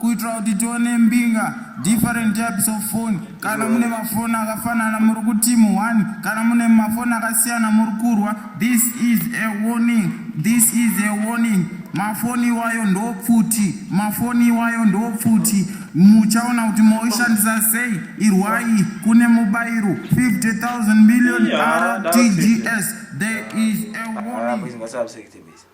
kuitira kuti tione mbinga different types of phone kana mune mafoni akafanana muri kutimu one kana mune mafoni akasiyana muri kurwa this is a warning this is a warning mafoni iwayo ndopfuti mafoni iwayo ndopfuti muchaona kuti moishandisa sei irwai kune mubairo 50000 million rtgs there is a warning ah,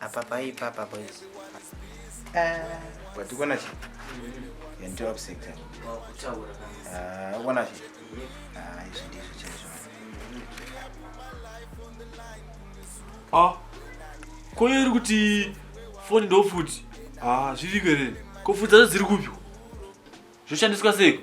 apa paipa apa boys watikona chi yanditora kuseka ukona chi izvi ndizvo chaizvo ah koyo iri kuti foni ndofuti ah zviriko here kofudza zvo dziri kupi zvoshandiswa seiko